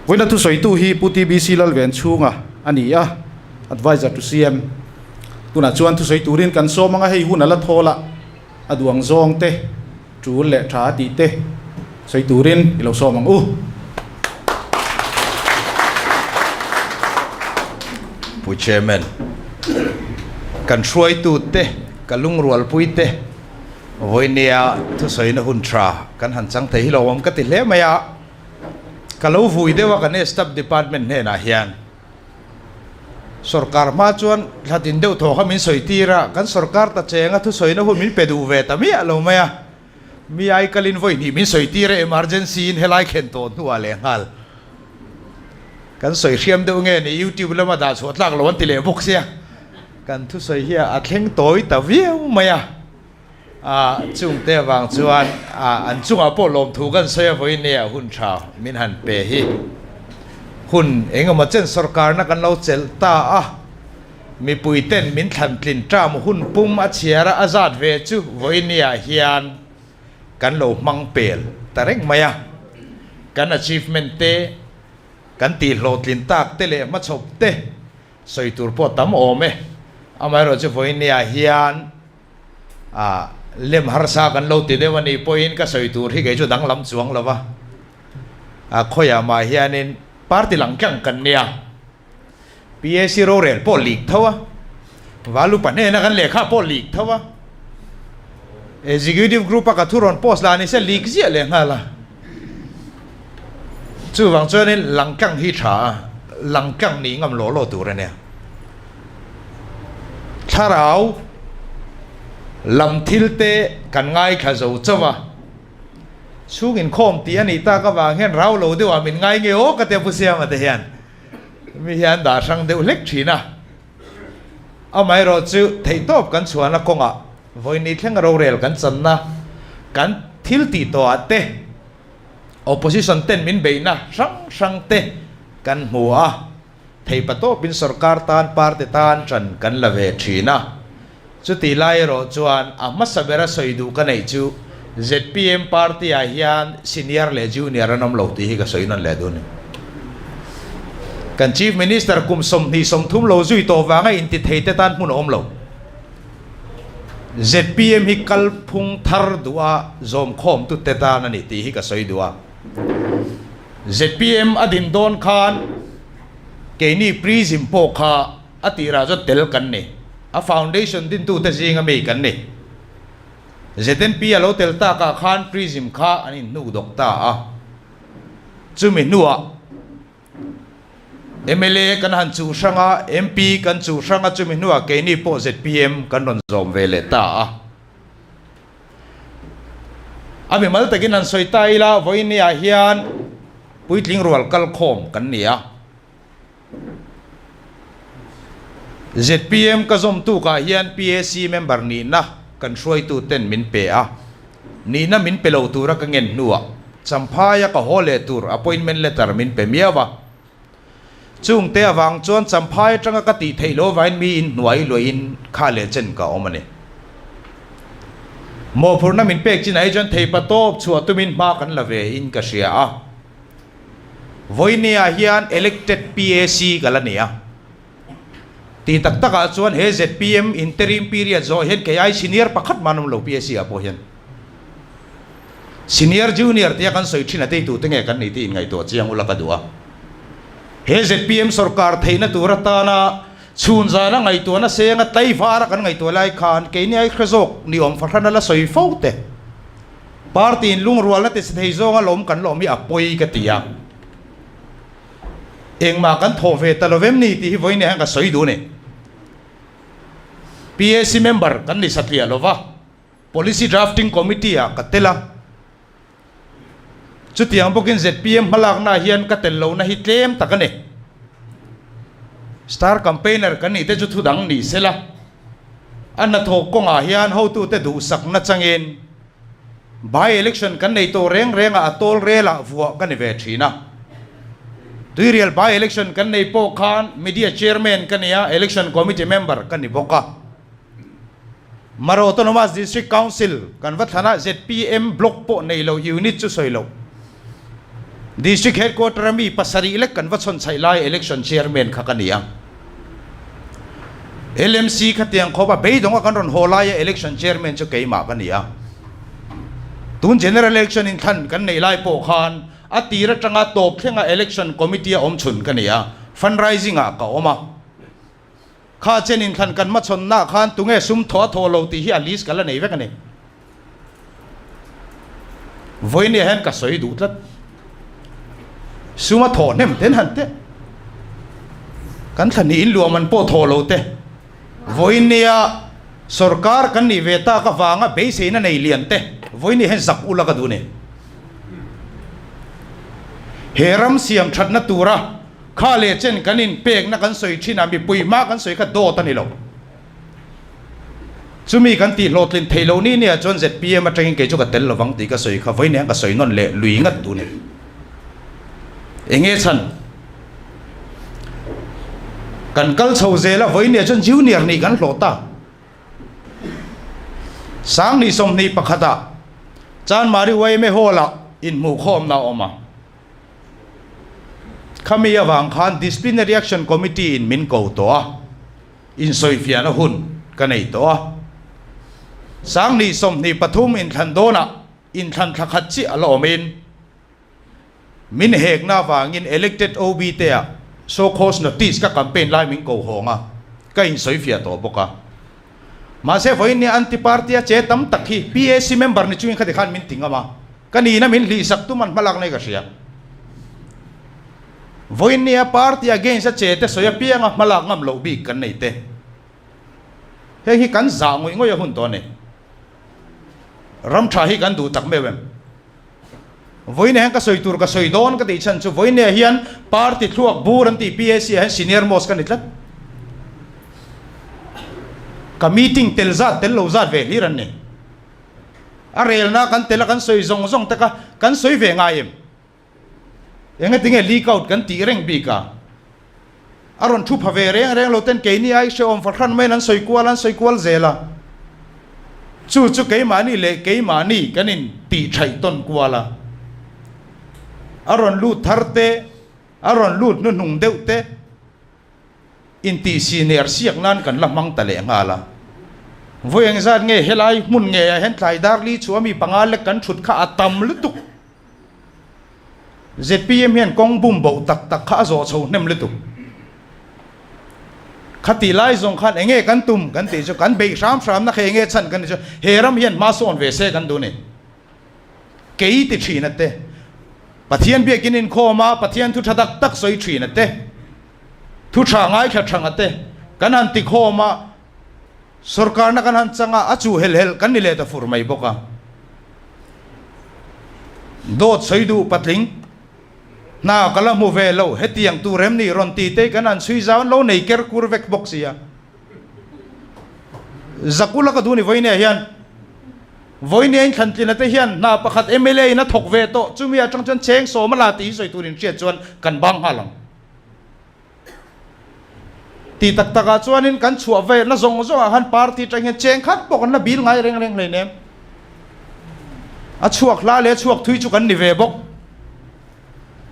Vawiina thusawitu hi Pu TBC Lalven Chhung a a ni a, Advisor to CM. Tunah chuan thusawi turin kan sawm anga hei huna la thawl a, a duang zawng te, tul leh tha a tih te sawi turin i lo sawm ang u. Pu Chairman, kan hruaitu te, ka lungrualpui te, Vawiinia thusawina hun tha kan han chang thei hi lo awm ka ti hle mai a. Ka lo vui deuh a kan Staff Department hnenah hian sorkar hma chuan hla tin deuh thawh kha min sawi tir a, kan sorkar ta chenga thusawina hun min pe duh ve ta miah lo mai a, mi ai kalin vawi hnih min sawi tir a, emergency in helai khen tawh hnuah lehnghal kan sawi hriam deuh nge ni, YouTube lama dah chhuah tlak lo an ti leh bawk sia, kan thusawi hi a thleng tawi ta viau mai a. Ahh chung te avang chuan ahh an chungah pawh lawmthu kan sawi a vawi nia a hun tha min han pe hi hun engemaw chen sorkarna kan lo chelh ta a mipui ten min thlan tlin tam hun pum a chhiar a zat ve chu vawinia hian kan lo hmang pel ta reng mai a kan achievement te kan tih hlawh tlin tak te leh hma chhawp te sawi tur pawh tam awm e amaherawhchu vawinia hian a lem harsa kan lo ti deuh a nih pawhin ka sawi tur hi kei chu danglam chuang lova a khawiah mah hianin party lang tlang kan nia PAC rorel pawh lik tho a valu pahnena kan lehkha pawh lik tho a executive group a ka thu rawn post la ni se lik ziah leh nghal a Chuvang chuanin langkang hi tha a, langkang nih ngam law law tur a nia. Thlarau lam thil te kan ngaithla zo chauh a, chhung inkhawm tih a nih tak avang hian rau lo deuhah min ngai nge aw ka ti a Pu Siama te hian mi hian dah a hrang deuh hlek thin a. Amaherawh chu theihtawp kan chhuahna kawngah vawinih thleng rorel kan channa, kan thil tih tawhah te, Opposition ten min beihna hrang hrang te kan hmu a, theipa tawpin sorkar tan party tan tan kan la ve thin a. Chutih lai erawh chuan a hmasa bera sawi duh ka neih chu zpm party-ah hian senior leh junior an awm lo tih hi ka sawi nawn leh dun. Kan Chief Minister kum sawmhnih sawmthum lo zui tawh vanga intitheite tan hmun a awm lo. Zpm hi kalphung thar duha zawmkhawmtu te tan a ni tih hi ka sawi duh a. Zpm a din dawn khan keini prism pawh kha A tirah chuan tel kan ni. A foundation dintute zinga mi kan ni. Znp a lo tel takah khan prism kha an inhnukdawk ta a. Chumi hnuah mla kan han chuh hrang a, MP kan chuh hrang a, chumi hnuah keini pawh zpm kan rawn zawm ve leh ta a. A mimal takin an sawi ta ila, Vawinia hian puitling rual kal khawm kan ni a. Zpm ka zawm tukah hian pac member nihna kan hruaitu ten min pe a, nihna min pe lo tura ka ngen hnuah Champhaia ka haw leh tur appointment letter min pe miau a. Chung te avang chuan Champhai atanga ka tih theih lo vain mi in hnuai luai in kha leh chen ka awm a ni. Mawhphurhna min pek chin ah hi chuan theipa tawp chhuah tumin hma kan la ve in ka hria a. Voineah hian elected PAC ka la nei a. Ti tak takah chuan he zpm interim period zawh hian kei ai senior pakhat hman awmlo PAC ah pawh hian. Senior junior te a kan sawi thin a tei tute nge kan nei tih in ngaihtuah chiang ula ka duh a. He zpm sawrkar theihna tur atana chhunzana ngaihtuah nasenga tlaivara kan ngaihtuah lai khan keini ai hre zawk ni awm fahran a la sawi fo teh. Party in lungrualna tisi thei zawnga lawm kan lawm hi a pawi ka ti a, engmah kan thawh ve ta lovem ni tih hi vawinia hian ka sawi dun e. PAC member kan ni satliah lova, policy drafting committee ah ka tel a, chutiang bawkin zpm hmalaknaah hian ka tel lohna hi tlem tak a ni. Star campaigner kan nih te chu thudang ni sela, a hnathawk kawngah hian hotute duhsakna changin, By election kan nei tawh reng renga a tawlrelah vuah ka ni ve thin a. Tuirial by election kan nei pawh khan media chairman ka nia, election committee member ka ni bawk a. Mara Autonomous District Council kan va thlan a, zpm block pawh nei lo unit chu sawi lo. District Headquarter a mi pasarih lek kan va chhawnchlaih lai Election Chairman kha ka ni a. LMC kha tiang khawp a, beidawngah kan rawn haw laia Election Chairman chu keimah ka ni a. Tun General Election in thlan kan neih lai pawh khan a tir atanga tawp thlengah Election Committee a awm chhun ka ni a, Fundraising-ah ka awm a. Kha chen in thlan kan hmachhawn na khan tunge sum thaw a thaw lo tih hi a list ka la nei vek a ni. Vawiin ah hian ka sawi duh tlat. Suma thaw hnem ten han teh. Kan thla nih in luahman pawh thaw lo te. Vawiin nia sorkar kan nih ve tak avanga beisei na nei lian te vawiin nih hian zak u la ka duh ni. He ram siam that na tura. Kha leh chen kan in pekna kan sawi thin a, mipui hma kan sawi kha dawt a ni lo. Chumi kan tih hlawhtlin thei lo ni nia chuan zpm atang in kei chu ka tel lo vang tih ka sawi kha vawi niang ka sawi nawn leh lui ngat duh nen enge chhan kan kal chho zel a vawi nia chuan junior nih kan hlawh ta sang ni sawmhnih pakhat ah chanmari yma hall ah in hmuh khawmna a awm a. Khami avang khan Disciplinary Action Committee in min ko tawh a, insawifiahna hun ka nei tawh a. Sangni sawmhnih pathum inthlan dawnah inthlan thla khat chiah a la awmin, min hekna avangin Elected OB teah So Cause Notice ka campaign lai min ko hawng a, ka insawifiah tawh bawk a. Mahse vawiin nia an ti party a che tam tak hi pac member ni chungin kha ti khan min ti ngam a, ka nihna min hlih sak tum an hma lak nei ka hria. Vawiin nia party against a che te sawi apiang a hma lak ngam loh bik kan nei te. Heng hi kan zah ngawih ngawih a hun tawh a ni. Ram tha hi kan duh tak meuh em? Vawinia hian ka sawi tur ka sawi dawn ka tih chhan chu Vawinia hian party thluak bur an tih PAC ah hian senior most ka ni tlat. Ka meeting tel zat tel lo zat ve hlir an ni. A relna kan tel a kan sawi zawng zawng tak a, kan sawi ve ngai em? Engatinge leak out kan tih reng bik a? a rawn thu pha ve reng reng lo ten keini ai hreawm fa hran maiin an sawi kual an sawi kual zel a, chu chu keimahni leh keimahni kan in tih thaih tawn kual a, a rawn lut thar te, a rawn lut hnuhnung deuh te in tih siner siak nan kan la hmang ta leh nghal a, vawiin zat nge helai hmun ngeiah hian tlai darli chu a mi panga lek kan thut kha a tam lutuk. zpm hian kawng bum boh tak tak kha a zawh chho hnem lutuk. Khati lai zawng khan eng nge kan tum kan tih chu kan beih hram hram na kha eng nge chhan kan tih chu he ram hian hma sawn ve se kan duh ni. Kei ti thin a te, Pathian biakin inkhawm a, Pathian thu tha tak tak sawi thin a te, thu tha ngai tha thang a te, kan han tikhawm a, sorkarna kan han chang a, a chu helh helh kan ni leh ta fur mai bawk a. Dawt sawi duh patling hna ka la hmu ve lo, hetiang tur em ni rawn ti te kan han chhui zau an lo nei ker kur vek bawk sia. Zakula ka duh ni Vawiniah hian Vawiniahin thlantlin ate hian hna pakhat mla in a thawk ve tawh chumi atang chuan cheng sawm a la tih hi sawi turin hriat chuan kan bang nghal ang. Ti tak tak ah chuanin kan chhuah vei na zawng zawng ah khan party tang hian cheng khat pawh kan la bil ngai reng reng hlei nem. A chhuak hla leh a chhuak thui chu kan ni ve bawk.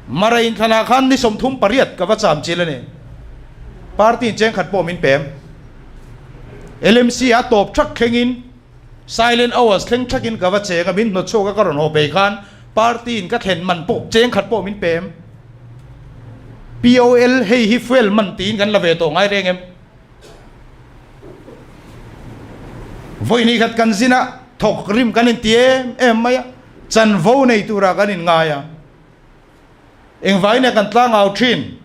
Mara in thlanah khan ni sawmthum pariat ka va cham chil a ni. Party in cheng khat pawh min pem. LMC a tawp thak thleng in. Silent hours thleng thak in ka va cheng a, min hnawt chhuak a ka rawn haw pei khan party in ka thlen man pawh cheng khat pawh min pe em? POL hei hi fuel man tiin kan la ve tawh ngai reng em? Vawi ni khat kan zin a thawk rim kan in ti em em mai a, chanvo nei tur ah kan in ngai a, engvai nia kan tla ngau thin,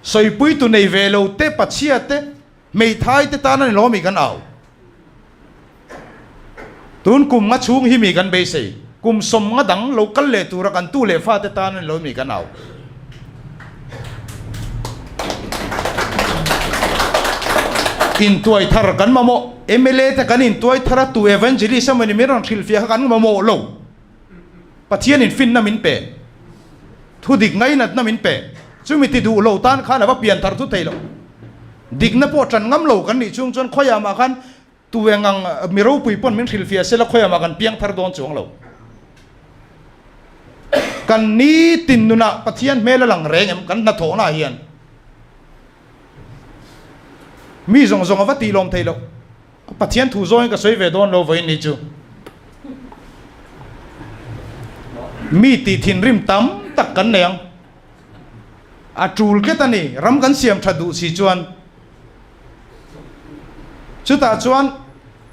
sawipui tu nei ve lo te Pathiate, Hmeithai te tan a ni lomi kan au. Tun kum nga chhung hi mi kan beisei. Kum sawm nga dang lo kal leh tura kan tu leh fate tan a ni lomi kan au. Intuai thar kan mamawh. MLA te kan intuai thar a, tu evangelist emawni min rawn hrilhfiah kha kan mamawh lo. Pathian in finna min pe, thu dik ngainatna min pe, chumi ti duh lo tan khan a va pian thar thu thei lo. Dikna pawh tan ngam lo kan nih chhung chuan khawiah mah khan tu eng ang mi ropui pawn min hrilh fia sela khawiah mah kan piang thar dawn chuang lo. Kan ni tin nunah Pathian hmel a lang reng em? Kan hnathawhnah hian mi zawng zawng a va ti lawm thei lo. Pathian thu zawngin ka sawi ve dawn lo vawiin ni chu. Mi tih thinrim tam tak kan nei ang. A tul tlet a ni. Ram kan siam tha duh si chuan. Chutah chuan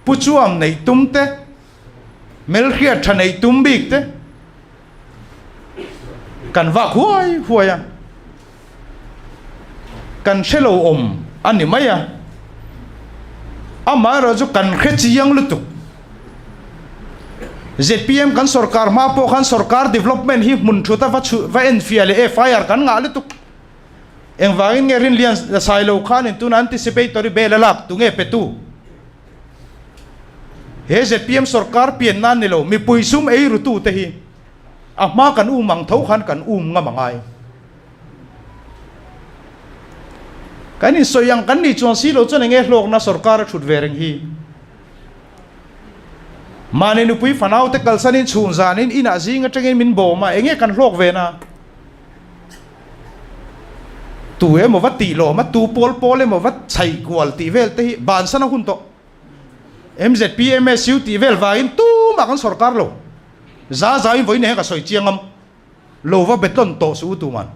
Pu Chuam neih tum te. Melhriat tha nei tum bik te kan vak huai huai a, kan hre lo awm a ni mai a, amah erawh chu kan hre chiang lutuk. ZPM kan sorkar hma pawh khan sorkar development hi hmun thuta va chhu va enfiah leh e fai ar kan ngah lutuk. Engvangin nge rin lian la sai lo khan in tuna anticipatory bel a lak tu nge petu? He zpm sorkar pian nan ni lo mipui sum eiru tu te hi a hma kan um ang tho khan kan um ngam angai. Kan in sawi ang kan nih chuan si lo chuan eng nge hlawkna sorkar a thut ve reng hi? Mahni nupui fanau te kalsan in chhun zan in inah zing atangin min bawm a eng nge kan hlawk ve na? Tu emawva tih lawm a, tu pawl pawl emawva chhai kual tih vel te hi bansan a hun tawh. MZP, MSU tih vel vangin tumah kan sorkar lo. Za zain vawiin eng ka sawi chiang ngam lova betlawn tawh suh u tuman.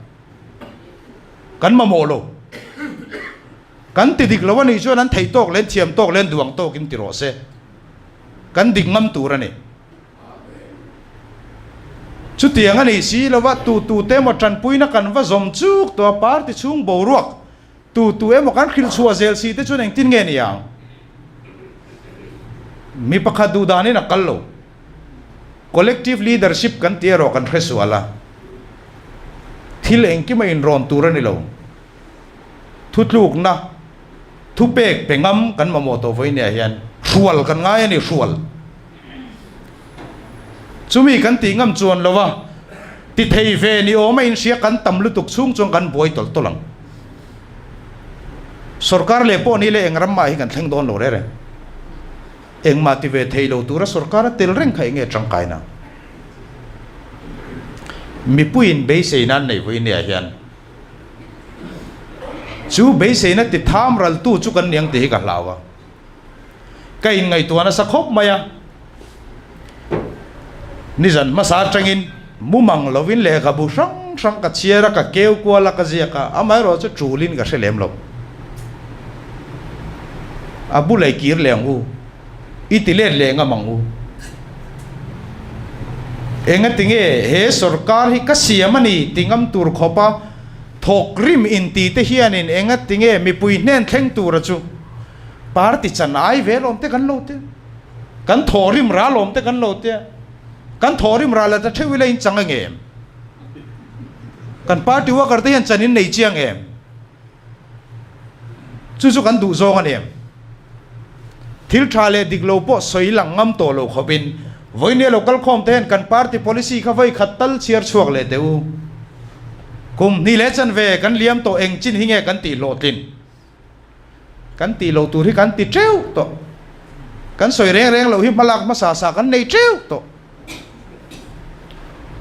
Kan mamawh lo. Kan ti dik lo a nih chuan an thei tawk leh an thiam tawk leh an duang tawkin ti rawh se. Kan dik ngam tur a ni. Chutiang a nih si lo va, tu tu te emaw tanpuina kan va zawm chuk tawh a, party chhung boruak tu tu emaw kan hrilh chhuah zel si te chuan engtin nge ni ang? Mi pakhat duh dan in a kal lo, collective leadership kan ti erawh kan hresual a, thil engkim a inrawn tur a ni lo, thutlukna, thupek pe ngam kan mamawh tawh vawiin ni ah hian hrual kan ngai a ni, hrual. Chumi kan tih ngam chuan lo va, tithei ve ni awm a inhria kan tam lutuk chhung chuan kan buai tawlh tawlh ang. Sorkar leh pawh nile eng ram mah hi kan thleng dawn lo reng reng. Engmah ti ve thei lo tura sorkar a tel reng kha enge tangkai na? Mipuiin beisei nan nei vawi nia hian chu beiseina ti tham ral tu chu kan niang tih hi ka hlau a. ka in ngaihtuah nasa khawp mai a, nizan hmasa atangin mumang lovin lehkhabu hrang hrang ka chhiar a, ka keu kual a, ka ziak a, amaherawhchu chulin ka hre lem lo. A bu lei kir leng u, i ti let leng ang mang u. Enga tinge he sorkar hi ka siam a ni ti ngam tur khawpa thawk rim in tite hianin enga tinge mipui hnen thleng tura chu Party chan ai ve lawm te kan lo tia, kan thaw rimrah lawm te kan lo tia, kan thaw rimrah la ta theuh ila in chang ange em? Kan party worker te hian chan in nei chiang em? Chu chu kan duh zawng a ni em? Thil tha leh dik lo pawh sawi lang ngam tawh lo khawp in, Vawinia lo kal khawm te hian kan party policy kha vawi khat tal chhiar chhuak leh teh u. Kum hnih leh chanve kan liam tawh eng chin hi nge kan tih hlawhtlin? Kan tih lo tur hi kan ti teuh tawh. Kan sawi reng reng lo hi hmalak hmasa sa kan nei teuh tawh.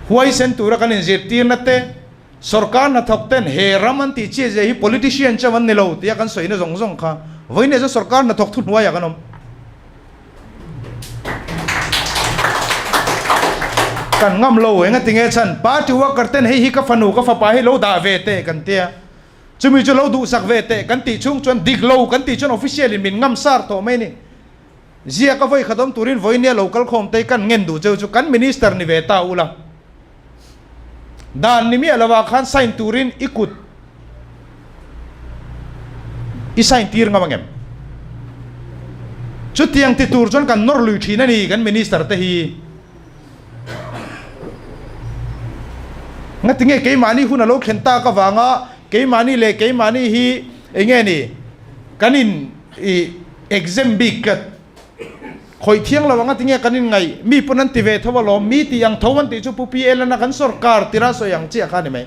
Huaisen tura kan inzirtirna te, sorkar hnathawk ten he ram an tih chiah zia hi politician chauh an ni lo tia kan sawina zawng zawng kha vawiin erawh sorkar hnathawk thuhnuaiah kan awm. Kan ngam lo engatinge chhan party worker ten hei hi ka fanu ka fapa hi lo dah ve teh kan tia. Chumi chu lo duhsak ve teh kan tih chhung chuan dik lo kan tih chuan official in min ngam sar tawh mai ni. Zia ka vawi khatawm turin vawi nia lo kal khawm tei kan ngen duh cheu chu kan minister ni ve ta ula dan ni miah lova khan sign turin i kut i sign tir ngam angem? Chutiang ti tur chuan kan nawr lui thin a ni kan minister te hi. Ngatinge keimahni hun a lo thlen tak avanga keimahni leh keimahni hi eng nge ni kan in ih exam bik tlat khawih thiang lo anga tinge kan in ngaih mi pawn an ti ve tho alawm mi tih ang tho an tih chu pupi el nana kan sawrkar tirah sawi ang chiah kha a ni mai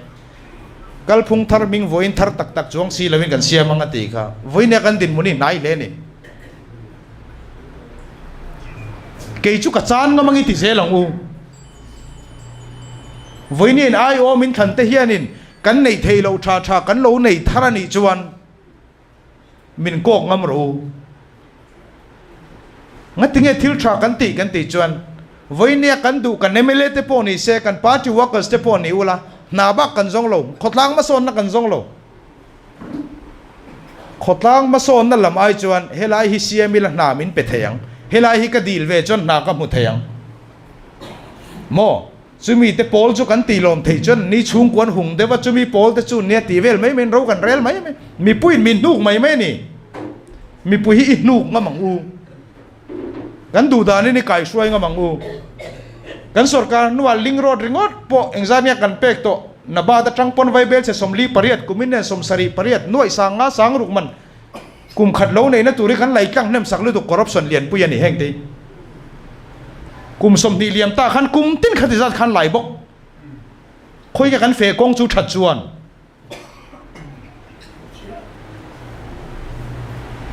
kalphung thar hming vawiin thar tak tak chuang si lovin kan siam anga tih kha vawiin e kan dinhmun hi hnai hle a ni. Kei chu ka chan ngam ang i ti zel ang u. Vawiin in ai awm in thlante hianin kan neih thei loh tha tha kan lo nei thar a nih chuan min kawk ngam rawh u. Ngatinge thil tha kan tih kan tih chuan vawiinia kan duh kan mla te pawh ni se kan party workers te pawh ni ula hna bak kan zawng lo, khawtlang hmasawnna kan zawng lo. Khawtlang hmasawnna lam ai chuan helai hi siam ila hna min pe thei ang, helai hi ka dil ve chuan hna ka hmu thei ang maw? Chumi te pawl chu kan tih lawm thei chuan ni chhungkua an hung deuh a, chumi pawl te chu nia tih vel mai mai in ro kan rel mai mai. Mipui'n min hnuk mai mai a ni, mipui hi i hnuk ngam ang u. Kan duhdanin i kaihruai ngam ang u. Kan sorkar hnuah ling road ringawt pawh engzat nge kan pek tawh? Nabat atang pawn vaibel che sawmli pariat, kumin nen sawm sarih pariat, nuaihsang nga sang ruk man kum khat lo neihna tur hi kan lei tlang hnemsak lutuk corruption lianpui a ni heng te hi. Kum sawmhnih liam ta khan kum tin kha ti zat khan lai bawk. Khawi nge kan feh kawng chu that chuan.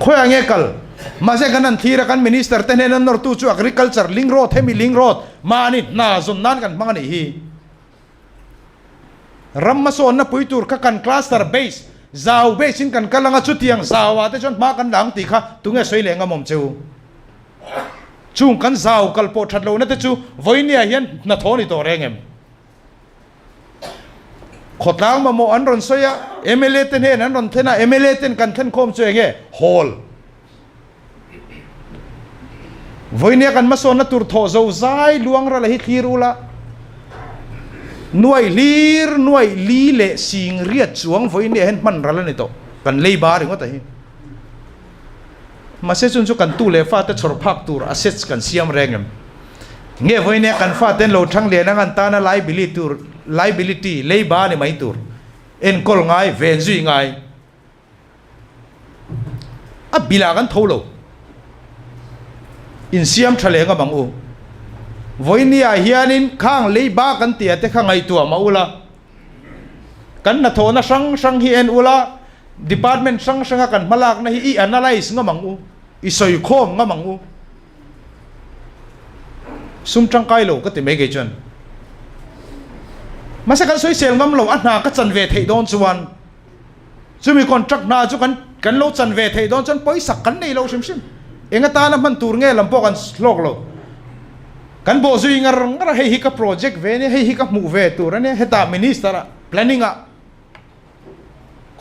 Khawi ang e kal. Mahse kan han thlir a, kan Minister te hnen an nawrtu chu Agriculture, Link Road, hemi Link Road mahni hna zawn nan kan hmang a nih hi. Ram hmasawnna pui tur kha kan Cluster Base, zau base in kan kal ang a, chutiang zau ah te chuan hma kan la ang tih kha tunge sawi leh ngamawm che u. Chung kan zau kal pawh that lohna te chu vawinia hian hna thaw ni tawh reng em? Khawtlang mamawh an rawn sawi a, mla te hnenah an rawn thlen a, mla ten kan thlen khawm chu eng nge? Hawl. Vawinia kan hmasawnna tur thawh zo zai luangrala hi thlir ula, nuai hlir, nuai li leh singriat chuang vawinia hian hmanral a ni tawh, kan leiba ringawt a hi. Mahse chun chu kan tu leh fa te chhawr phak tur a sets kan siam reng em? Nge vawi nia kan fa ten lo thang lian angan tana liability tur, liability, leiba a ni mai tur enkawl ngai, ven zui ngai a bilah kan tho lo. Insiam tha leng a mang u. Vawi niah hianin khang leiba kan tia te kha ngaihtuah mah ula. Kan hnathawhna hrang hrang hi en ula, department hrang hranga kan hmalakna hi i analyse ngam ang u, i sawikhawm ngam ang u. Sum tangkai lo ka ti mai ngei chuan mahse kan sawi sel ngam lo a hna ka chan ve theih dawn chuan, Chumi contract hna chu kan kan lo chan ve theih dawn chuan pawisak kan nei lo hrim hrim. Enga tan a hman tur nge lam pawh kan hlawk lo. Kan bawh zui ngar ngar a hei hi ka project ve a nia, hei hi ka hmuh ve tur a nia, hetah minister ah planning ah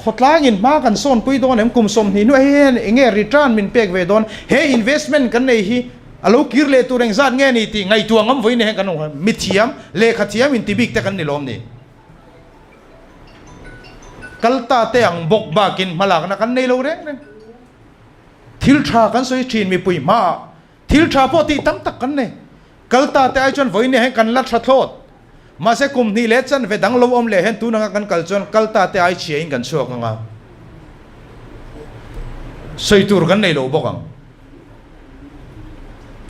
khawtlangin hma kan sawnpui dawn em, kum sawm hnih hnuaia hei hian eng nge return min pek ve dawn, he investment kan nei hi a lo kir leh tur engzat nge ni tih ngaihtuah ngam vawiin a heng kan awm. Mithiam, lehkha thiam inti bik te kan ni lawm ni. Kalta te ang bawk bakin hmalakna kan nei lo reng reng. Thil tha kan sawi thin mipui hmaah thil tha pawh tih tam tak kan nei. Kalta te ai chuan vawinia hian kan la tha thlawt. Mahse kum hnih leh chanve dang lo awm leh hian tun anga kan kal chuan kalta te ai chhia in kan chhuak anga sawi tur kan nei lo bawk ang.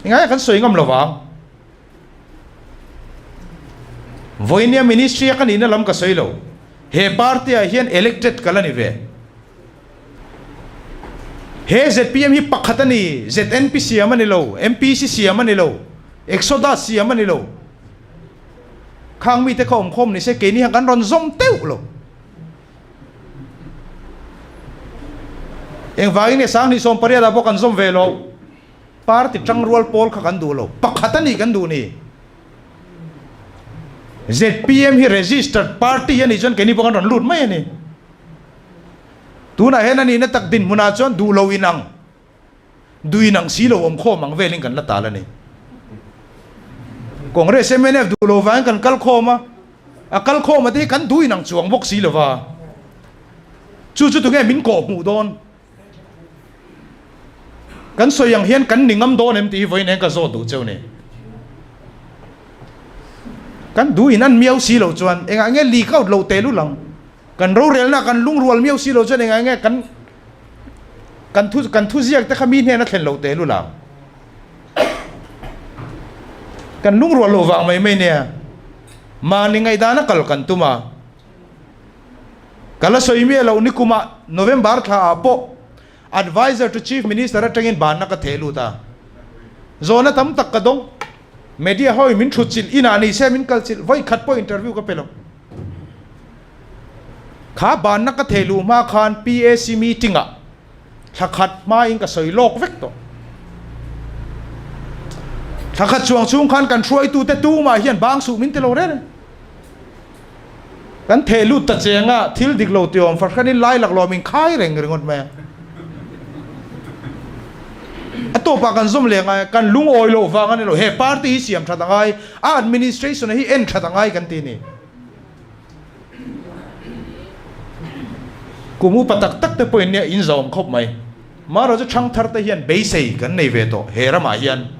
Engaiah kan sawi ngam lo vang. Vawihnia ministry a ka nihna lam ka sawi lo, he party ah hian elected ka la ni ve. He zpm hi pakhat a ni, znp siam a ni lo, MPC siam a ni lo, Exodus siam a ni lo. Khang mite kha awm khawm ni se, keini hian kan rawn zawm teuh lo. Engvangin e sang hnih sawm pariat ah pawh kan zawm ve lo. Party tangrual pawl kha kan duh lo, pakhat a nih kan duh ni? Zpm hi registered party a nih chuan keini pawh kan rawn lut mai a ni. Tunah hian a nihna tak dinhmunah chuan duh lo inang, duh inang si lo awm khawm ang velin kan la tal a ni. Congress mnf duh lo vangin kan kal khawm a, a kal khawm ati hi kan duh inang chuang bawk si lo va, chu chu tunge min kawhhmuh dawn? Kan sawi ang hian kan ni ngam dawn em tih hi vawiin eng ka zawt duh cheu ni? Kan duh in an miau si lo chuan engah nge li ka awt lo teh lul ang? Kan rorelna kan lungrual miau si lo chuan engah nge kan kan thu kan thuziak te kha mi hnena thlen lo teh lul ang? Kan lungrual lo vang mai mai nia. Mahni ngaihdan a kal kan tum a. Ka la sawi miah lo nikum ah November thla ah pawh Advisor to Chief Minister atangin banna ka theh lut a. Zawhna tam tak ka dawng. Media ho in min thutchilh, inah ni se min kalchilh, vawi khat pawh interview ka pe lo. Kha banna ka theh luh hma khan PAC meeting ah, thla khat hma in ka sawi lawk vek tawh thla khat chuang chhung khan kan hruai tu te tu mah hian bang suh min ti lo rere kan theh lut ta cheng a thil dik lo tiawm farhran in lai lak lo min khai reng ringawt mai a a tawp ah kan zawm leh ngai kan lung awi loh vang a ni lo he party hi siam that a ngai a administration a hi en that a ngai kan ti ni. Kum upa tak tak te pawhin nia in zawm khawp mai. Mahro chu Thangthar te hian beisei kan nei ve tawh he ramah hian.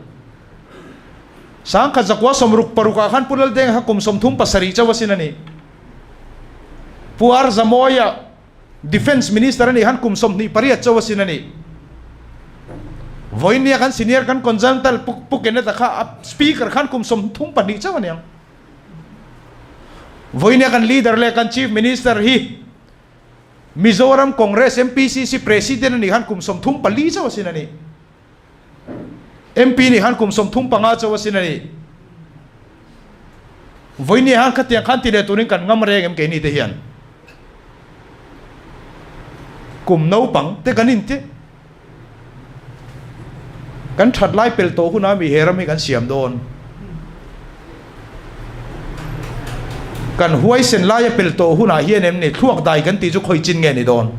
Sangkhat zakua sawmruk paruk ah khan Pu Laldenga kha kum sawmthum pasarih chauh a sin a ni. Pu Arzamawia Defence Minister a nih khan kum sawmhnih pariat chauh a sin a ni. Vawinia kan senior kan Konzalntal Pu Pu Keneda kha a Speaker khan kum sawmthum pahnih chauh a ni ang. Vawinia kan leader leh kan chief minister hi Mizoram Congress MPCC president a nih khan kum sawm thum pali chauh a sin a ni. MP nih khan kum sawm thum panga chauh a sin a ni. Vawinia han khatiang khan ti leh turin kan ngam reng em keini te hian. Kum naupang te kan inti. Kan that lai pel tawh hunah mi he ram hi kan siam dawn. Kan huaisen lai a pel tawh hunah hian em ni, thluak dai kan tih chu khawi chin nge ni dawn.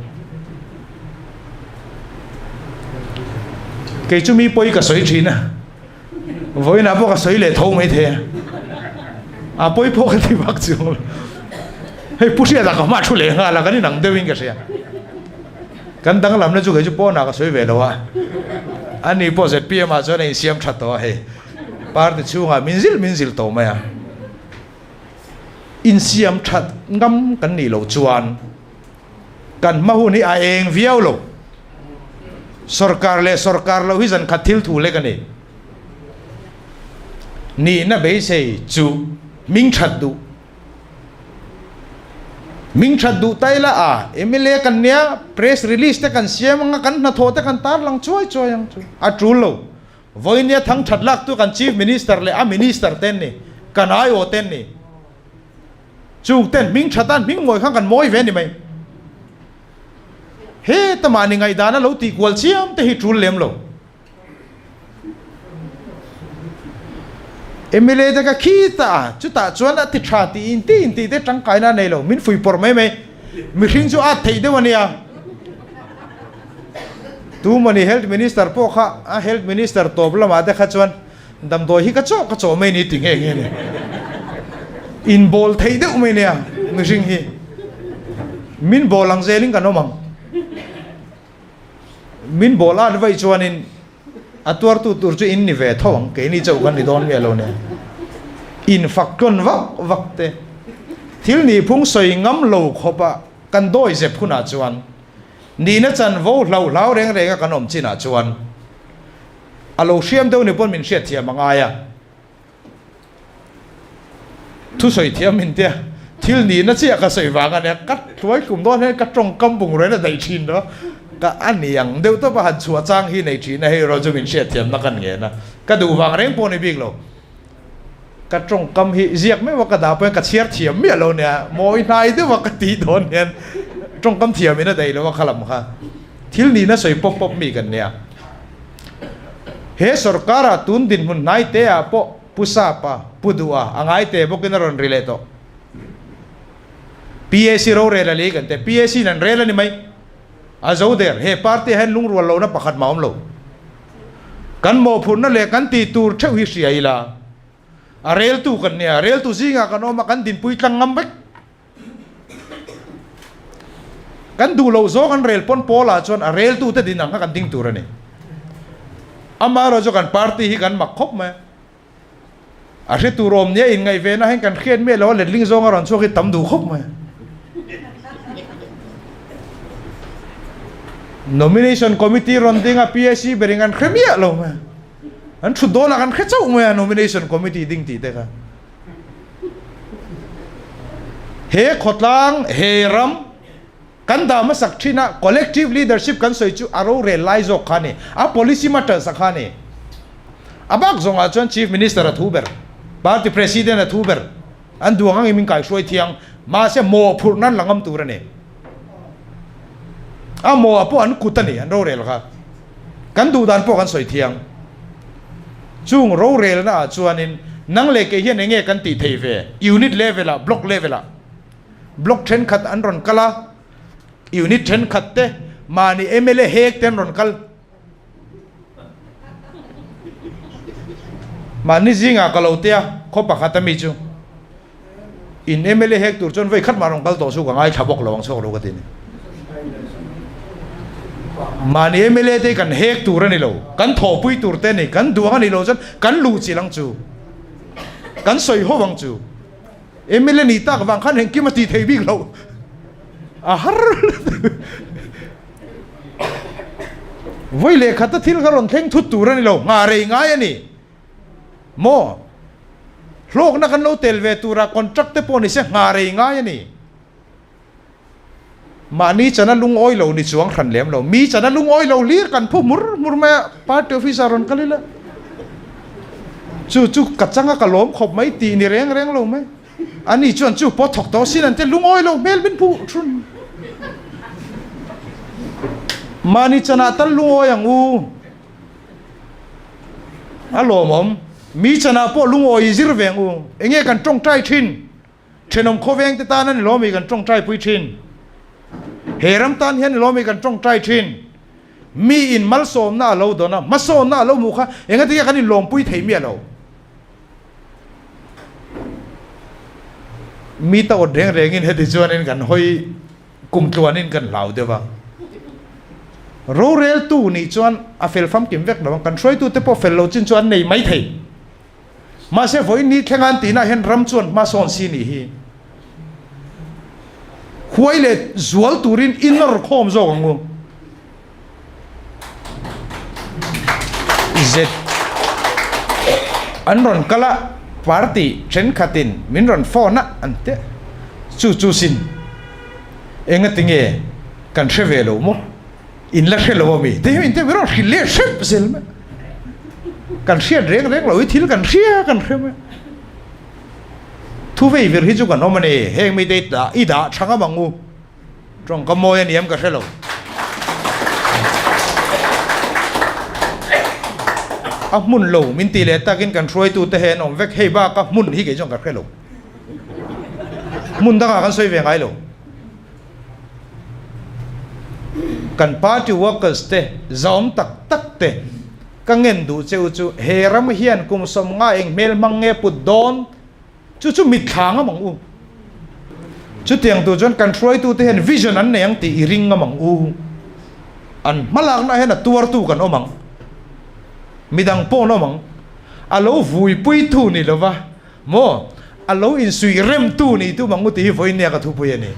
Kei chu mi pawi ka sawi thin a, vawiinah pawh ka sawi leh tho mai thei a. A pawi pawh ka ti bak chu. Hei pu hriatah ka hma thu leh nghal a, kan inang deuhin ka hria. Kan danglamna chu kei chu pawnah ka sawi ve lo a, a ni pawh zpm ah chuan a insiam tha tawh a hei, party chhungah min zil min zil tawh mai a, insiam tha ngam kan nih loh chuan kan hma hun hi a eng viau lo, sorkar leh sorkar lo hi zan khat thil thu lek a ni, nihna beisei chu hming that duh. Min that duh ta ila a, mla kan nia press release te kan siam anga kan hnathawh te kan tarlang chuai chuai ang chu. A tul lo, Vawinia thang that laktu kan Chief Minister leh a Minister te an ni, kan aiawh te an ni. Chung ten hming that a, hming ngawi khan kan mawi ve ni mai. Heta mahni ngaihdan a lo tihkual chiam te hi tul lem lo. Emily te ka khi ta a, chutah chuan a ti tha ti in ti in tih te tangkai na nei lo, min fui pawrh mai mai, mihring chu at theih deuh a nia, tumawni health minister pawh kha a health minister tawp lamah te kha chuan damdawi hi ka chawh ka chawh mai ni ti ngei ngei nen in bawl thei deuh mai nia mihring hi min bawl ang zel in kan awm ang. Min bawl at vaih chuanin a tuartu tur chu in ni ve tho ang, keini chauh kan ni dawn miah lo nen in fak tlawn vak vak te. Thil nihphung sawi ngam lo khawpa kan dawi zep hunah chuan nihna chan vo hlau hlau reng renga kan awm chinah chuan a lo hriam deuh ni pawn min hriatthiam a ngai a. Thusawi thiam intia thil nihna chiah ka sawi vanga nia ka hluai hlum dawn hian ka tawngkam bungrawn a daih thin lo ka a niang deuh tawpa han chhuah chang hi nei thihna hi erawh chungin hriat thiamna kan ngen a ka duh vang reng pawh a ni bik lo ka tawngkam hi ziak meuh a ka dah pawh hian ka chhiar thiam miah lo nia maw i hnai deuh a ka tih dawn hian tawngkam thiam in a daih lo a khalam kha thil nihna sawi pawp pawp mi kan nia. He sorkara tun dinhmun hnai te ah pawh Pu Sap a, Pu Duh a, a ngai te bawk in a rawn ri leh tawh. PAC ro rel ali kan ti. PAC in an rel a ni mai. A zo der. He party ah hian lungrual lohna pakhat mah a awm lo. Kan mawhphurhna leh kan ti tur theuh hi hria ila a rel tu kan nia. Rel tu zing ah kan awm a kan dinpui tlang ngam vek. Kan duh loh zawng an rel pawn Paula chuan a reltute dinah kha kan ding tur a ni. Amaherawh chu kan party hi kan mak khawp mai a. A hre tur awm nia inngaihve nahin kan hriat miah lo a, letling zawnga rawn chhuak hi tam duh khawp mai a. Nomination committee rawn ding a, PAC berin an hre miah lo mai a. An thut dawnah kan hre chauh mai a nomination committee ding tih te kha. He khawtlang he ram kan dah hmasak thin a collective leadership kan sawi chu a rorel lai zawk kha a ni. A policy matters a kha a ni. A bak zawng ah chuan Chief Minister a thu ber, Party President a thu ber, an duang ang in min kai hruai thiang, mahse mawh phurh nan la ngam tur a ni. A mawh ah pawh an kut a ni an rorel kha. kan duhdan pawh kan sawi thiang. Chung rorelna ah chuanin nang leh kei hian enge kan tih theih ve? Unit level ah, block level ah block thenkhat an rawn kal a, unit thenkhat te, mahni mla hek te an rawn kal. Mahni zingah ka lo tia khaw pakhata mi chu. In mla hek tur chuan vei khat mah rawn kal tawh suk a ngaithla bawk lo ang chhuak lo ka ti a ni. Mahni mla te hi kan hek tur a ni lo, kan thawhpui tur te a ni. Kan duang a nih loh chuan kan luh chilh ang chu, kan sawi ho ang chu. Mla ni tak vang khan engkim a ti thei bik lo. A har vawi leh khata thil kha rawn thleng thut tur a ni lo, nghah rei ngai a ni. maw? Hlawkna kan lo tel ve tura contract te pawh ni se nghah rei ngai a ni. Mahni chana lungawi lo ni chuang hran lem lo. Mi chana lungawi lo hlir kan phu hmur hmur mai a, party office ah rawn kal ila. Chu chu ka changa ka lawm khawp mai tih ni reng reng lo mai. Ani chuan chu pawh thawk tawh sin an ti a, lungawi lo hmel min phu hrun. Mahni chana tal lungawi ang u. A lawmawm mi chanah pawh lungawi i zir veng u. Enge kan tawngtai thin? Thenawm khawvengte tan a ni lawm i kan tawngtaipui thin. He ram tan hian ni lawm i kan tawngtai thin. Mi in malsawmna a lo dawn a, hmasawnna a lo hmu kha engati nge kan inlawmpui thei miah lo. Mi tawt reng rengin heti chuan kan hawi. kum tluan in kan hlau deuh ang. Rorel tu nih chuan a fel famkim vek lo ang, kan hruai tu te pawh fel lo chin chu an nei mai thei. Mahse vawiin ni thlenga an tihna ah hian ram chuan hma sawn si nih hi huai leh zual turin in la raw khawm zawk ang u. izet an rawn kal a party thenkhatin min rawn phone a an ti a chu chu sin enga tinge kan hre ve lo maw in la hre lo a mi te hi in te hi min rawn hrilh leh hrep zel mai kan hriat reng reng lo i thil kan hria kan hre mai thuvei vir hi chu kan awm a ni heng mite i dah i dah thang a mang u. Tawng ka mawi a ni em ka hrelo. A hmun lo min tih leh tak in kan hruaitu te he an awm vek hei bak a hmun hi kei chuan ka hrelo. Hmun dangah kan sawi ve ngai lo. Kan party workers te zaawm tak tak te ka ngen duh cheu chu he ram hian kum sawm nga eng hmel hmang nge put dawn? Chu chu mitthla anga mang u. Chutiang tur chuan kan hruaitute hian vision an nei ang tih i ring a mang u. An hmalakna hian a tuartu kan awm ang. Midang pawn awm ang. A lo vuipuitu ni lova maw a lo insuih remtu ni tu mang u tih hi vawinia ka thupui a ni.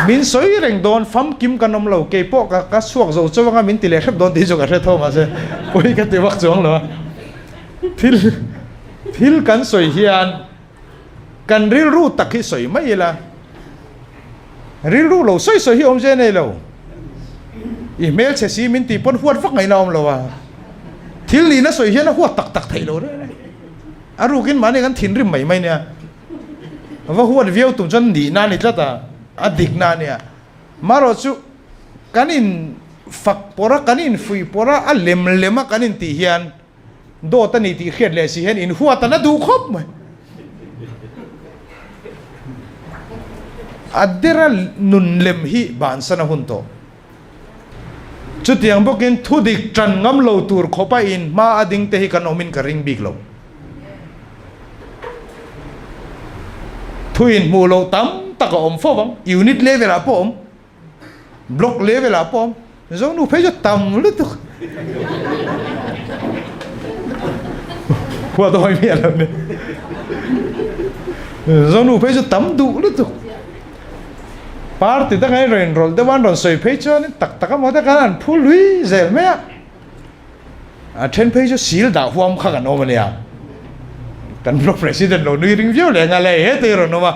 Min sawi reng dawn, famkim kan awm lo, kei pawh ka chhuak zo chauh anga min ti leh hrep dawn tih chu ka hre thung mahse pawi ka ti vak chuang lo a. Thil thil kan sawi hian kan rilru tak hi sawi mai ila, rilru lo sawi sawi hi awmzia nei lo. I hmelchhe si min tih pawn huat vak ngaihna a awm lo a, thil nihna sawi hian a huat tak tak theih lo reh reh. A rukin mahni kan thinrim mai mai nia. Va huat viau tum chuan nihna a ni tlat a, a dikna a nia. Marawhchu kan in fak pawrh a, kan in fuih pawrh a, a lem lem a kan in tih hian dawt a ni tih hriat leh si hian in huat an a duh khawp mai. A dera nun lem hi bansan a hun tawh. Chutiang bawkin thu dik ṭan ngam lo tur khawpa in hma a ding te hi kan awmin ka ring bik lo. Thu in hmuh loh tam tak a awm fo vang, unit level ah pawh a awm, block level ah pawh a awm. Zawngnu phei chu tam lutuk. Khua dawi miah lo nen. Zawngnu phei chu tam duh lutuk. Party danga i rawn inrawl deuh a, an rawn sawi phei chuan in tak tak a maw te khan an phu lui zel mai a, a then phei chu sil dah huam kha kan awm a nia, kan block president lo nui ring viau leh a ngai a, he te hi rawn awm a,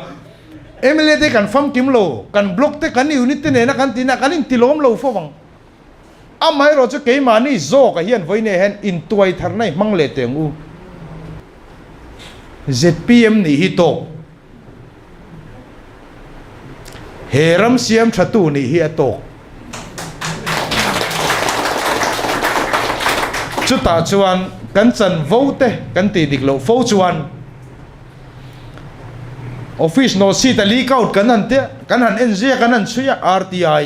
mla te kan famkim lo, kan block te kan unit te nena kan ti na kan inti lawm lo fo vang. Amaherawh chu keimahni zawkah hian vawineia hian intuai tharna i hmang leh teh ang u. Zpm nih hi tawk. He ram siam thatu nih hi a tawk. Chutah chuan kan chan vote kan tih dik loh fo chuan Office nawlsita likout kan han tia, kan han en zia kan han chhui a, RTI.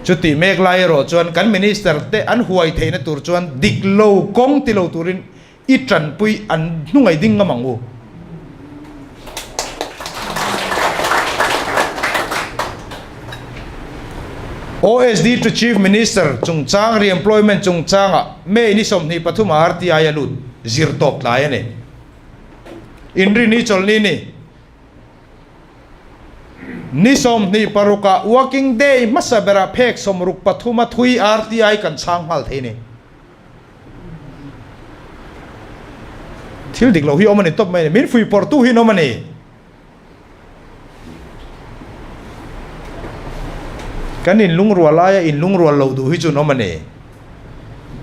Chuti mek lai erawh chuan kan Minister te an huai theihna tur chuan dik lo kawng ti lo turin i tanpui an hnungaih ding a mang u. OSD to Chief Minister chungchang Reemployment chungchangah May ni sawmhnih pathumah RTI a lut zir tawp tlai a ni. Inrini chawlhni ni. Ni sawmhnih paruk ah Working Day hmasa ber ah phek sawmruk pathum a thui RTI kan chhang nghal thei ni. Thil dik lo hi awm a ni tawp mai ni. Min fui pawr tu hi an awm a ni. Kan in lungrual aia in lungrual lo duh hi chu an awm a ni.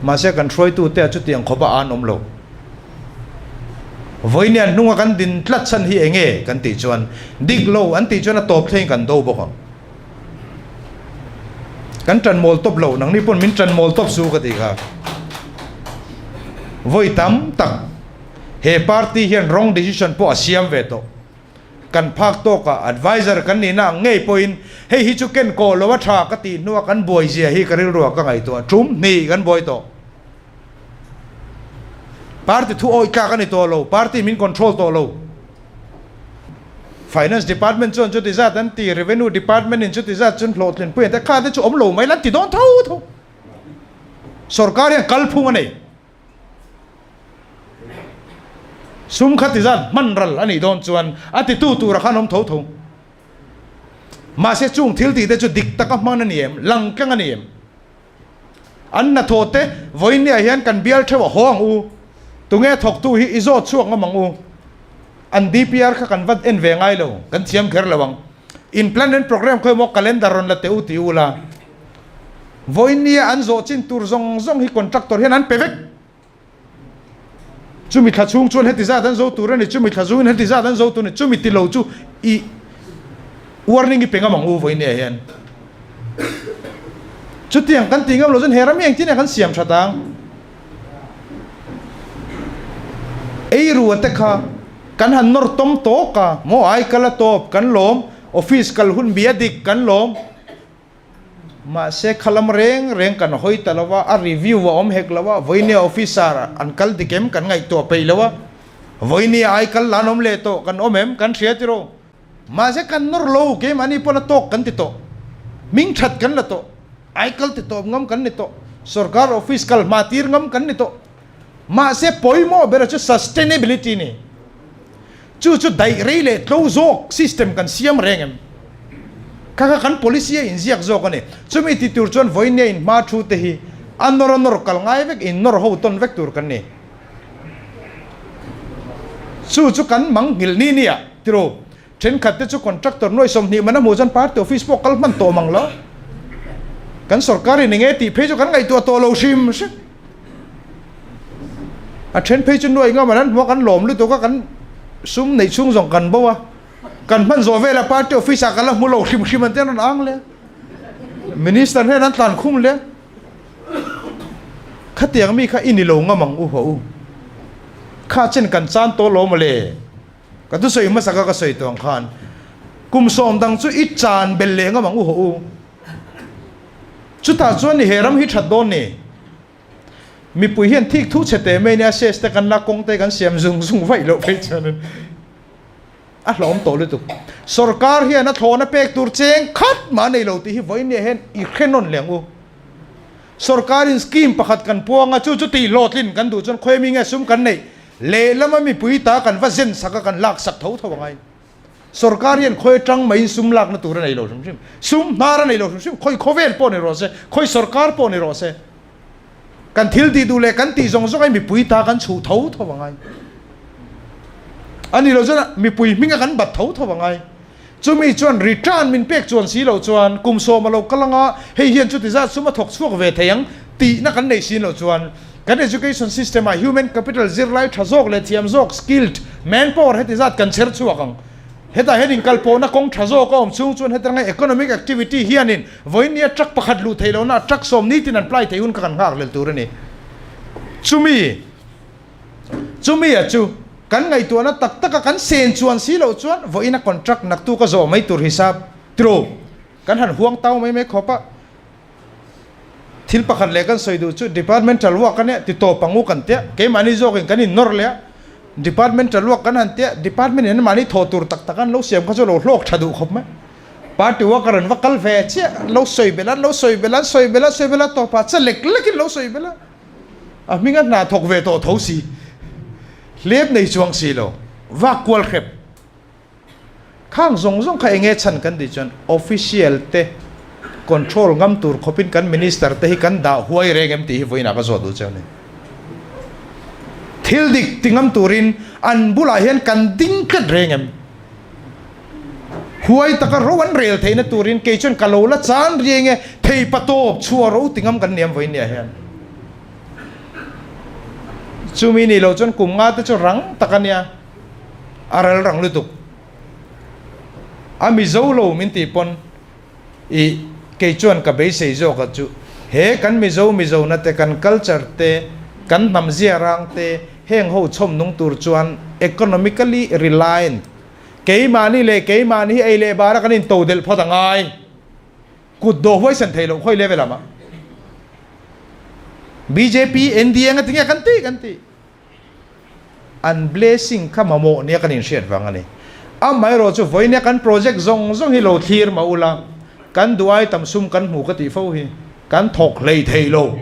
Mahse kan hruaitute a chutiang khawpa a an awm lo. Vawinia hnunga kan din tlat chhan hi eng e kan tih chuan dik lo an tih chuan a tawp thlein kan do bawk ang. Kan tan mawl tawp lo, nangni pawn min tan mawl tawp su ka ti kha. Vawi tam tak, he party hian wrong decision pawh a siam ve tawh. kan phak tawk a, advisor kan nihna ang ngei pawhin hei hi chu ken kawl lo a tha ka tih hnu a kan buai zia hi ka rilruah ka ngaihtuah a, tum hnih kan buai tawh. Party thu awih tlak a ni tawh lo, party min control tawh lo. Finance department chuan chuti zat an ti, revenue department in chuti zat chuan hlawhthlin pui an ti a, kha te chu awm lo mai ila an ti dawn tho tho. Sorkar hian kalphung a nei. Sum kha ti zan hman ral a nih dawn chuan a titu tura khan awm tho tho. Mahse chung thil tihte chu dik taka hman a ni em? Lang keng a ni em? An hnathawh te, Vawinia hian kan bial theuh a haw ang u, tunge thawktu hi i zawt chhuak ngam ang u, an DPR kha kan va en ve ngai lo, kan thiam kher lo ang, in plan and program khawi maw calendar rawn la teh u ti u la. Vawinia an zawh chin tur zawng zawng hi contractor hian an pe vek. Chumi thla chhung chuan heti zat an zo tur a ni, chumi thla zungin heti zat an zo tur a ni, chumi ti lo chu i warning i pe ngam ang u Vawinia hian. Chutiang kan tih ngam lo chuan he ram hi engtin a kan siam tha ta ang? Eirua te kha kan han nawr tawm tawk a, maw? Ai kal a tawp kan lawm, office kal hun bia dik kan lawm. Mahse kha lam reng reng kan hawi ta lo va, a review a awm hek lo a, vawini officer an kal dik em kan ngaihtuah peih lo a, vawini a ai kal la an awm leh tawh kan awm em kan hria tiraw? Mahse kan nawr lo, keimahni pawn a tawk kan ti tawh, hming that kan la tawh, aikal ti tawp ngam kan ni tawh, sorkar office kal hma tir ngam kan ni tawh. Mahse pawimawh berah chu sustainability ni chu chu daih rei leh tlo zawk system kan siam reng em? Kha kha kan policy a inziak zawk a ni. Chumi ti tur chuan vawinia in hma thu te hi a nawr a nawr kal ngai vek in nawr ho tawn vek tur kan ni. Chu chu kan mang ngil ni ni a tilo Thenkhat te chu contractor nuaih sawmhnih man a hmuh chuan party office pawh kal hman tawh mang lo. Kan sorkar in eng e tih phei chu kan ngaihtuah tawh lo hrim hrim. A then phei chu nuaih ngam an an hmu a kan lawm lutuk a kan sum neih chhung zawng kan bo a. Kan hman zawh vela party office ah ka la hmu lo hrim hrim an ti a rawn ang le a. Minister hian an tlan khum le a. Khatiang mi kha i ni lo ngam ang u haw u. Kha chen kan chan tawh lo mawle. Ka tu sawi hmasa ka ka sawi tawng khan kum sawm dang chu i chan bel leh ngam ang u haw u. Chutah chuan ni he ram hi that dawn ni. Mipui hian thik thu chhe teh mai nia size te kan la kawng te kan siam zung zung vaih loh phei chuan in a hlawm tawh lutuk. Sorkar hian a thlawna pek tur cheng khat mah nei lo tih hi Vawinea hian i hre nawn leh ang u. Sorkar in scheme pakhat kan puang a chu chuti hlawhtlin kan duh chuan khawiami nge sum kan neih? Lehlama mipui ta kan va zen sak a, kan lak sak tho tho a ngai. Sorkar hian khawi atang maiin sum lakna tur a nei lo hrim hrim. Sum hnar a nei lo hrim hrim, khawi khawvel pawh ni rawh se, khawi sorkar pawh ni rawh se. Kan thil tih duh leh kan tih zawng zawng hi mipui ta kan chhuh tho tho a ngai. A ni lo chuan mipui hminga kan bat tho tho a ngai. Chumi chuan ri tan min pek chuan si lo chuan kum sawm a lo kal ang a, hei hian chuti zat sum a thawk chhuak ve thei ang tihna kan nei sin lo chuan kan education system ah human capital zirlai tha zawk leh thiam zawk, skilled manpower, heti zat kan chher chhuak ang. Hetah hian inkalpawhna kawng tha zawk a awm chhung chuan hetirangai economic activity hianin vawinia truck pakhat luh theih lohna ah truck sawm nitin an plai thei hun kha kan nghak lel tur a ni. Chumi. Chumi a chu, kan ngaihtuahna tak taka kan sen chuan si lo chuan vawiina contract naktu ka zawh mai tur hisap tiro kan han huang tau mai mai khawp a, thil pakhat leh kan sawi duh chu departmental work a nia titawp pangu kan tia, keimahni zawkin kan innawr leh a, departmental work kan han tia department in mahni thaw tur tak tak an lo siam kha chu lo hlawk tha duh khawp mai, party worker an va kal ve chiah, an lo sawi belh a, an lo sawi belh a, an sawi belh a, an sawi belh a, tawpah che lek lekin lo sawi belh a. A hming a hna thawk ve tawh tho si. Hlep nei chuang si lo. Vak kual hrep. Khang zawng zawng kha enge chhan kan tih chuan official te control ngam tur khawpin kan minister te hi kan dah huai reng em tih hi vawiin ah ka zawh duh che nen. Thil dik ti ngam turin an bulah hian kan ding tlat reng em? Huai taka ro an rel theihna turin kei chuan ka lo la chan riai nge thei patawp chhuah ro ti ngam kan niam vawiin ni a hian. Chumi nih lo chuan kum nga te chu rang tak a nia, a ral rang lutuk. A mizo lo min tih pawn i kei chuan ka beisei zawkah chu he kan mizo mizona te, kan culture te, kan hnam ziarang te heng ho chhawm nung tur chuan economically reliant, Keimahni leh keimahni hi ei leh bara kan into delh phawt a ngai. Kut dawh huaisan thei loh khawi level lamah. Bjp, NDA anga tinge kan tih kan tih. An blessing kha mamawh nia kan inhriat vang a ni. Amaherawh chu vawinia kan project zawng zawng hi lo thlir mah ula kan duh ai tam sum kan hmu ka tih fo hi. Kan thawk hlei thei lo.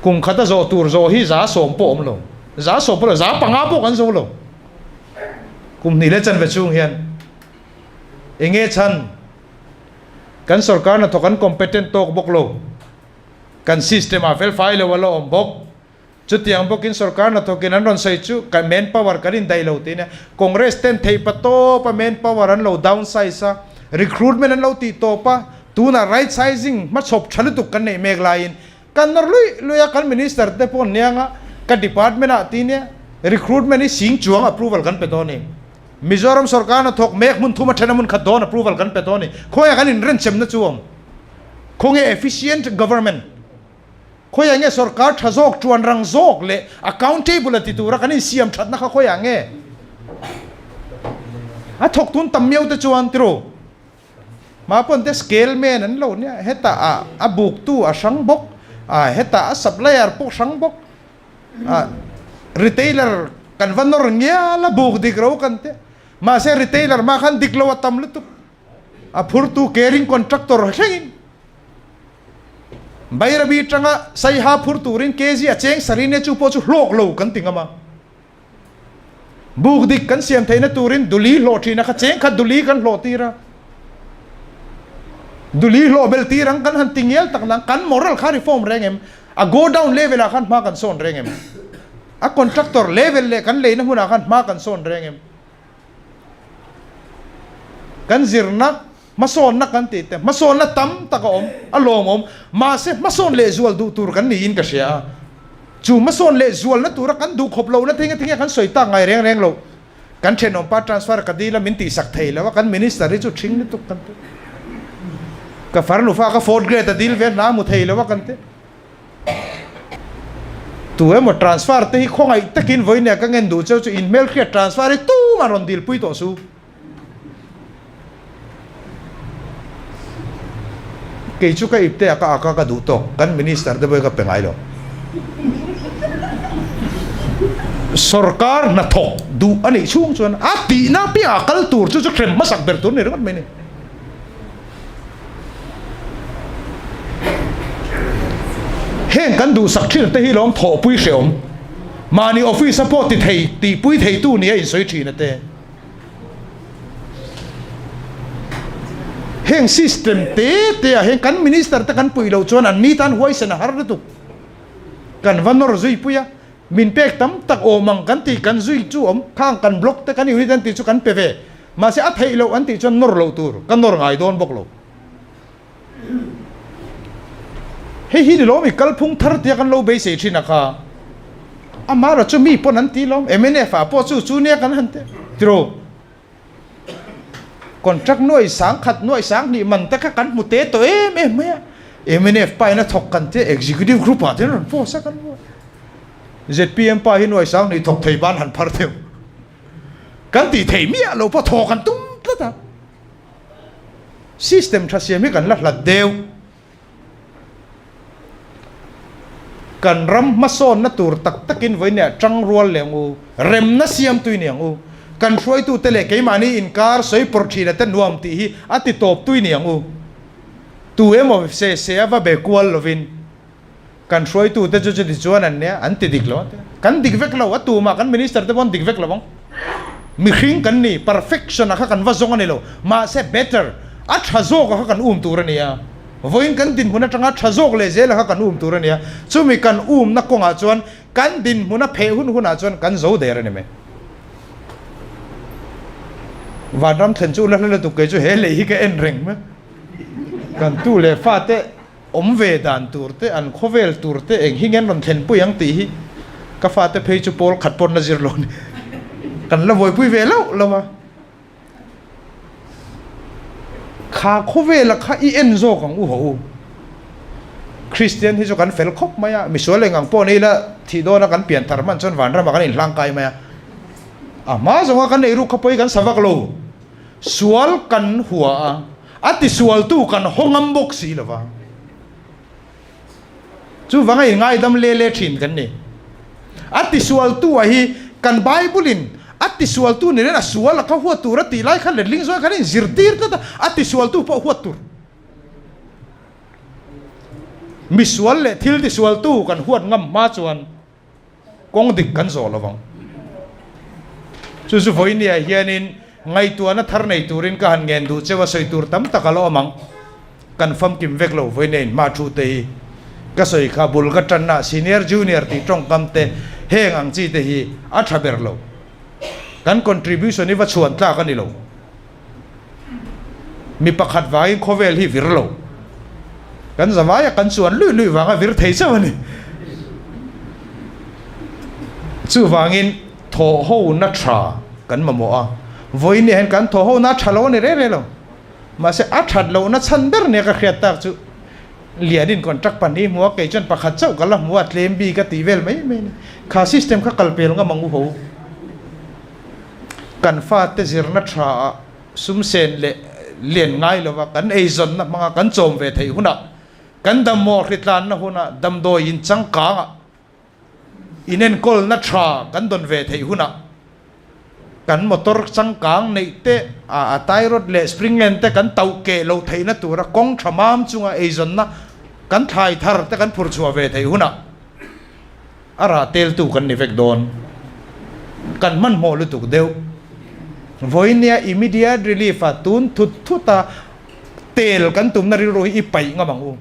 Kum khata zawh tur zawh hi za sawm pawh awm lo. Za sawm pawh lo, za panga pawh kan zo lo. Kum hnih leh chanve chhung hian enge chhan kan sorkarna thawk an competent tawk bawk lo. Kan system-ah fel fai lo a la awm bawk. Chutiang bawkin sorkar hna thawkin an rawn sawi chu ka man power kan indai lo tih a nia. Congress ten theipa tawpa man power an lo down size a, recruitment an lo tih tawp a, tunah right sizing hma chhawp tha lutuk kan neih mek laiin kan nawr luih luih a, kan minister te pawh nianga ka department ah tih nia recruitment hi sing chuang approval kan pe tawh a ni. Mizoram sorkar hna thawk mek hmun thuma then a hmun khat dawn approval kan pe tawh a ni. Khawnge kan inrenchemna chu awm? Khawnge efficient government? Khawiah nge sorkar tha zawk, tuan rang zawk leh accountable a ti tura kan insiam thatna kha khawiah nge? A thawk tun tam miau te chuan tiraw mah pawn te scale man an lo nia, heta a buk tu a hrang bawk, heta a supplier pawh hrang bawk, retailer kan va nawr ngial a buk dik ro kan tia, mahse retailer hma khan dik lo a tam lutuk, a phur tu caring contractor thlengin Bairabi tanga saiha phur turin KG a cheng sarhin e chu pawh chu hlawk lo kan ti ngam a. Buk dik kan siam theihna turin duli hlawh thina kha cheng khat duli kan hlawh tir a. Duli hlawh bel tir ang kan han ti ngial tak nang kan moral kha reform reng em? A go down level ah khan hma kan sawn reng em? A contractor level leh kan leina hmunah khan hma kan sawn reng em? Kan zirna hmasawnna kan tih te hmasawnna tam tak a awm, a lawm a awm. Mahse hmasawn lehzual duh tur kan niin ka hria a. Chu hmasawn lehzualna tura kan duh khawp lohna thing atangin kan sawi tak ngai reng reng lo. Kan thenawm pa transfer ka dil a min tihsak thei lo a, kan minister hi chu ṭhing lutuk kan ti. Ka farnufa ka fourth grade a dil ve hna a hmu thei lo a kan ti. Tu emaw transfer te hi khawngaih takin vawinia ka ngen duh cheu chu in hmel khriat transfer hi tum a rawn dilpui tawh su. Kei chu ka ipte a ka ak a ka duh tawk kan minister te pawh hi ka pe ngai lo. Sorkar hnathawk duh a neih chhung chuan a tihna piahah kal tur chu chu thlem hmasak ber tur ni ringawt mai a ni. Heng kan duhsak thin te hi lawm thawhpui hrehawm mahni office-a pawh tithei tihpui theitu nia insawi thin ate. Heng system te tea hian kan minister te kan puilo chuan an ni tan huaisena har lutuk kan va nawr zui pui a. Min pek tam tak awm ang kan tih kan zui chu awm khang kan block te kan unit an tih chu kan pe ve mahse a theih loh an tih chuan nawr loh tur ka nawr ngai dawn bawk lo. Hei hi ni lawm i kalphung thar tia kan lo beisei thin a kha a hmara chu mi pawn an ti lawm MNF ah pawh chu chu nia kan han tirh tiraw. Contract nuaih sang khat nuaih sang hnih man te kha kan hmu te tawh em em mai a, MNF pa in a thawk kan tia Executive Group ah te an rawn post a kan hmu a, zpm pa hi nuaih sang hnih thawk thei ban han phar theuh kan tih theih miah lo pawh thaw kan tum tlat a, system tha siam hi kan la hlat deuh. Kan ram hmasawnna tur tak takin vawinia ṭang rual leng u, remna siam tui niang u, kan hruaitute leh keimahni inkar sawipawrh ṭhina te nuam tih hi a ti tawp tui niang u. Tu emaw se se a va be kual lovin. Kan hruaitute chu chutiang chuan an nia, an ti dik lo ania. Kan dik vek lo, a tumah kan Minister te pawh dik vek lo ang. Mihring kan ni, perfection-a kha kan va zawng a ni lo, mahse better, a tha zawka kha kan um tur a nia. Vawiin kan dinhmun atanga tha zawk leh zela kha kan um tur a nia. Chumi kan umna kawngah chuan kan dinhmun a pheh hun hunah chuan kan zo der a ni mai. Vanram thlen chu ula hla lutuk kei chu he lei hi ka en reng hma. Kan tu leh fate Awm ve dan tur te, an khawvel tur te eng hi ngen rawn thlenpui ang tih hi ka fate phei chu pawl khat pawh na zir lo ni kan la vawipui ve loh lo a. Kha khawvela kha i en zawk ang u haw u. Kristian hi chu kan fel khawp mai a, misual eng ang pawh ni ila thih dawn a kan pian thar man chuan vanram ah kan in hlang kai mai a. A hma zawnga kan nei ruk kha pawi kan sa vak lo, sual kan hua a. A tisualtu kan haw ngam bawk si lo vang. Chuvanga i ngaidam le le thin kan ni. A tisualtuah hi kan Bible-in a tisualtu nen hian a sual a kha huat tur a tih lai kha letling zawng hian inzirtir tlat a, a tisualtu pawh huat tur. Misual leh thiltisualtu kan huat ngam hma chuan, kawng dik kan zawh lovang. Chu chu vawinia hianin ngaihtuahna thar nei turin ka han ngen duh cheu a, sawi tur tam tak alo awm ang. Kan famkim vek lo vawinia inhma thu te hi ka sawi kha bul ka tanna senior junior tih tawngkam te heng ang chi te hi a tha ber lo. Kan contribution hi va chhuan tlak a ni lo. mi pakhat vangin khawvel hi vir lo kan zavaia kan chuan lui lui vanga vir thei chauh a ni chuvangin thaw ho na tha kan mamawh a vawinia hian kan thaw ho na tha lo a ni rei rei lo mahse a that loh na chhan ber nia ka hriat tak chu lianin contract pahnih i hmu a kei chuan pakhat chauh ka la hmu a tlem bik a tih vel mai mai a ni kha system kha kal pel ngam ang u ho. Kan fate zirna tha ah sumsen leh lian ngai lo a kan ei zawnna hmanga kan chawm ve theih hunah kan dammawh hritlanna hunah damdawi in changkang ah inenkawl-na tha kan dawn ve theih hunah kan motor changkang neih te ah tie rod leh spring len te kan tauh keh lo theihna tura kawng tha mam chunga ei zawnna kan thlai thar te kan phur chhuah ve theih hunah A rah teltu kan ni vek dawn. Kan hmanhmawh lutuk deuh. Vawinia immediate relief a tun thut thut a tel kan tumna rilru hi i paih ngam ang u.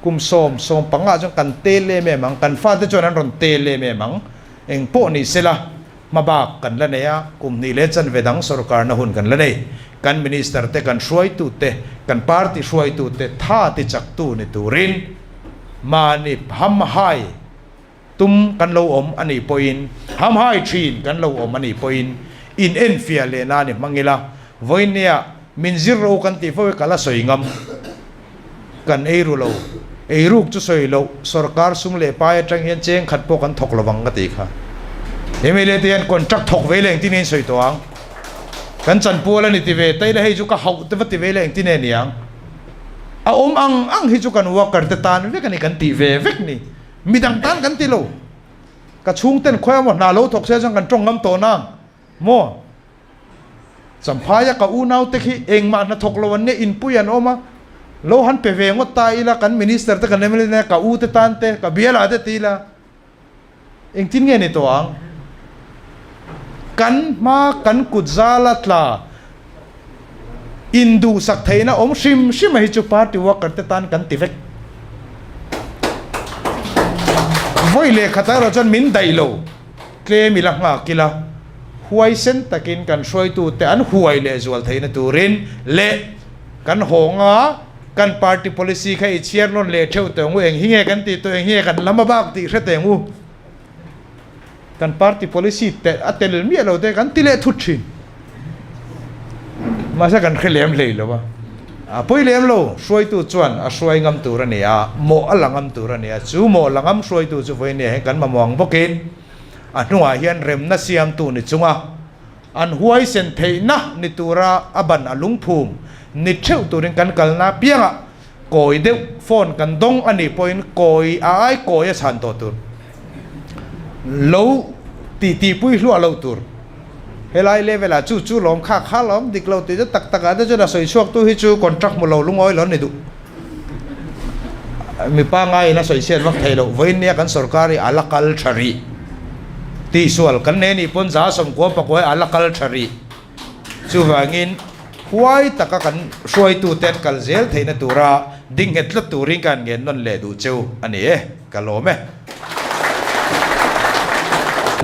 Kum sawm, sawm panga chuan kan tel em em ang. Kan fate chuan an rawn tel em em ang. Engpawh nih sela. Hmabak kan la nei a, kum hnih leh chanvedang sorkarna hun kan la nei. Kan Minister te, kan hruaitu te, kan party hruaitu te tha tichak tu ni turin mahni hamhai tum kan lo awm a nih pawhin, hamhai thin kan lo awm a nih pawhin inenfiah leh na ni hmang ila vawinia, Min zir ro kan tih fo i kal a sawi ngam kan ei ru lo, ei ruk chu sawi loh sorkar sung leh pai atang hian cheng khat pawh kan thawk lo vang ka ti kha. Mla te hian contract thawk vei leng tinin sawi tawh ang kan chan pual a ni ti ve, Taila hei chu ka hauh te va ti vei leng ti nge niang a awm ang ang hi chu kan worker te tan vek a ni kan tih ve vek ni midang tan kan ti lo ka chhungten khawi a maw hna lo thawk sia chuan kan tawng ngam tawh nang. Maw? Champhai-a ka unaute khi engmah hna thawk lo an nia, inpui an awm a, lo han pe ve ngawt ta ila, kan Minister te, kan mla te, ka u te tan te, ka biala te ti ila, engtin nge ni tawh ang? Kan hma kan kut zala tla induhsak theihna awm hrim hrim a hi chu Party worker te tan kan ti vek. Vawi lehkhat ah erawh chuan min daih lo. tlem ila nghak ila huaisen takin kan hruaitute an huai leh zual theihna turin leh kan hawng a, kan party policy kha i chhiar nawn leh theuh tawh ang u, eng hi nge kan tih tawh, eng hi nge kan lam a bak tih hre teh ang u. Kan party policy a tel miah lo te kan ti leh thut thin. Mahse kan hre lem hlei lo va, a pawi lem lo, hruaitu chuan a hruai ngam tur a ni a, mawh a la ngam tur a ni a, chu mawh la ngam hruaitu chu vawinia hian kan mamawh ang bawkin a hnungah hian remna siamtu ni chunga an huaisen theihna ni tura a ban a lungphum ni theuh turin kan kalna apiangah kawi deuh phone kan dawng a nih pawhin kawi a ai kawi a chhan tawh tur lo ti tihpui hluah lo tur helai level ah chu chu lawm khak khak lo awm dik lo tih te tak tak ah te chuan a sawi chhuak tu hi chu contract hmu lo lungawi lo a ni duh mi pangngai in a sawi chhiat vak thei lo vawiin nia kan sorkar i a la kal tha rih tihsual kan nei a nih pawn za sawm kual pakua hi a la kal tha rih. Chuvangin, huai taka kan hruaituten kal zel theihna tura ding nghet tlat turin ka han ngen nawn leh duh che u a ni e, ka lawm e.